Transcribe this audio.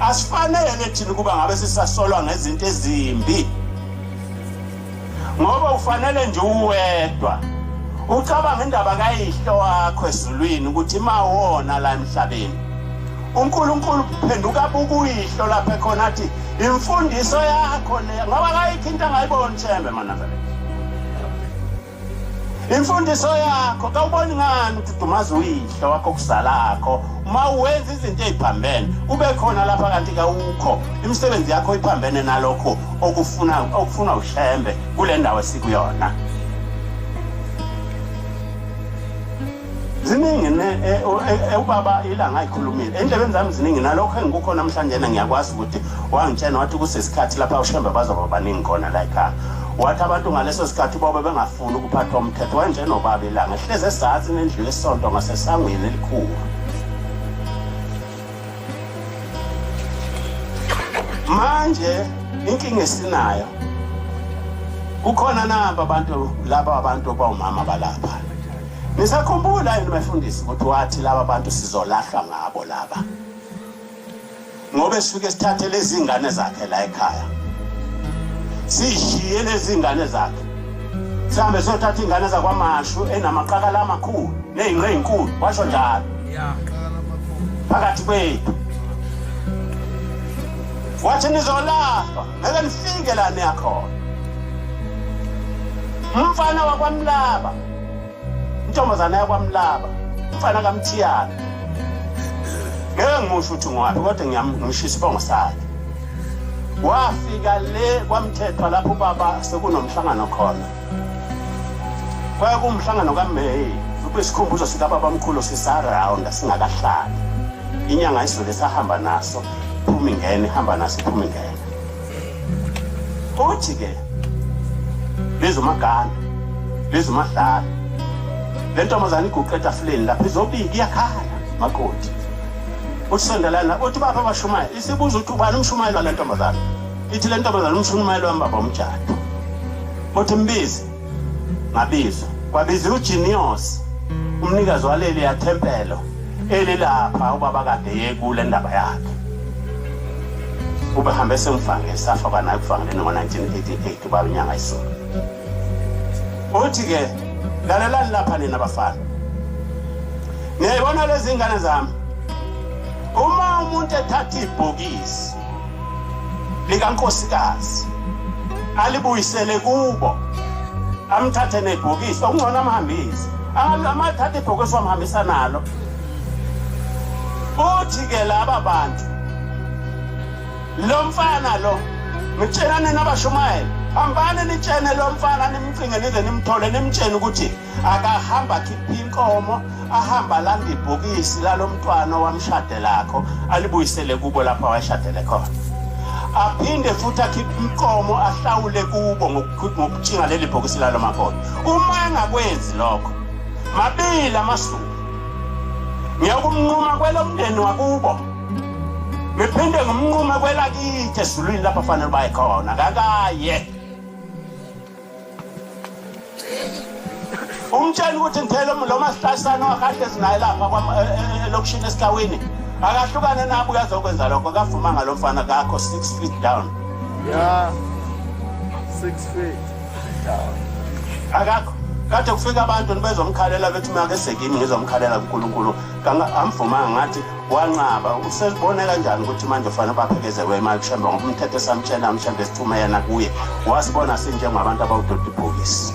Asifanele thina ukuba ngabe sisasolwa ngezinto ezimbi ngoba ufanele nje uwedwa ucabanga indaba kayihlo wakho ezulwini ukuthi mawona la emhlabeni uNkulunkulu phenduka bukuyihlo lapha khona athi imfundiso yakho le ngoba kayikho into angayiboni thembe manazareth imfundiso yakho kawuboni ngani ukuthi dumaza uyihlo wakho kuzalakho uma wenza izinto eziphambene kube khona lapha kanti kawukho imisebenzi yakho iphambene nalokho okufuna okufuna ushembe kule ndawo esikuyona ziningi ne e, e, e, ubaba ilanga ayikhulumile endlebeni zami ziningi nalokho engikukho namhlanje na ngiyakwazi ukuthi wangitshena wathi kusesikhathi lapha ushembe bazoba baningi khona la ekhaya wathi abantu ngaleso sikhathi bobe bengafuni ukuphathwa umthetho wanjenobaba ilanga ehlezi esazini endlu yesonto ngasesangweni elikhulu manje inkinga esinayo kukhona nabo abantu laba abantu bawumama balapha Nisakhumbula yini bafundisi ukuthi wathi laba bantu sizolahlwa ngabo laba. Ngobe sifike sithathe lezi zingane zakhe la ekhaya. Sishiye lezi zingane zakhe. Sihambe sothatha ingane zakwamashu enamaqakala amakhulu nezinqe ezinkulu washo njalo. Yeah. Phakathi kwethu. Wathi nizolahlwa. ngeke nifike la niyakhona umfana wakwamlaba intombazana yakwamlaba umfana kamthiyana ngeke ngimusho ukuthi ngwabi kodwa ngiyamshisa isibongo sakhe wafika le kwamthethwa lapho ubaba sekunomhlangano khona kwaye kuwumhlangano kameyi kwisikhumbuzo sikababamkhulu sisarawunda singakahlali inyanga isivele sahamba naso phumi ngene hamba nasi phumi ngene uthi ke lezomaganda lezomadlala le ntombazane iguqe etafuleni lapha izobika iyakhala makoti uthi sondelana uthi bapha abashumayela isibuza ukuthi ubani umshumayeli wale ntombazane ithi le ntombazane umshumayeli wami baba umjado uthi mbizi ngabiza kwabiza ujinios umnikazi waleli yathempelo elilapha ubaba kade yekule ndaba yakhe ubehambe semfange safa banaye kuvangele ngo-1988 ubaba inyanga isona uthi-ke lalelani lapha nina bafana niyayibona lezi ngane zami uma umuntu ethatha ibhokisi likankosikazi alibuyisele kubo amthathe nebhokisi okungcono amhambise amathatha ibhokisi wamhambisa nalo uthi ke laba bantu lo mfana lo ngitshelane nabashumayela hambani nitshene lo mfana nimcinge nize nimthole nimtshene ukuthi akahamba akhiphe inkomo ahamba alanda ibhokisi lalomntwana owamshade lakho alibuyisele kubo lapho awashadele khona aphinde futhi akhiphe inkomo ahlawule kubo ngokutshinga leli bhokisi lalo makhono uma engakwenzi lokho mabili amasuku ngiyakumnquma kwelomndeni wakubo ngiphinde ngimnqume kwelakithi ezulwini lapho fanele baye khona kakaye umtshela ukuthi ngithele lo masihlahlana wakade sinaye lapha e, e, e, elokishini esihlawini akahlukane nabo uyazokwenza lokho kavuma ngalo mfana kakho six feet down ya six feet down akakho kade kufika abantu nibezomkhalela bethi uma kesegini ngizomkhalela kunkulunkulu amvumanga ngathi wanqaba uselibona kanjani ukuthi manje ufanele baphekezelwe imali mhlawumbe ngoba umthetho esamtshela mhlawumbe sithume yena kuye wasibona sinjengabantu abawudodi ibhokisi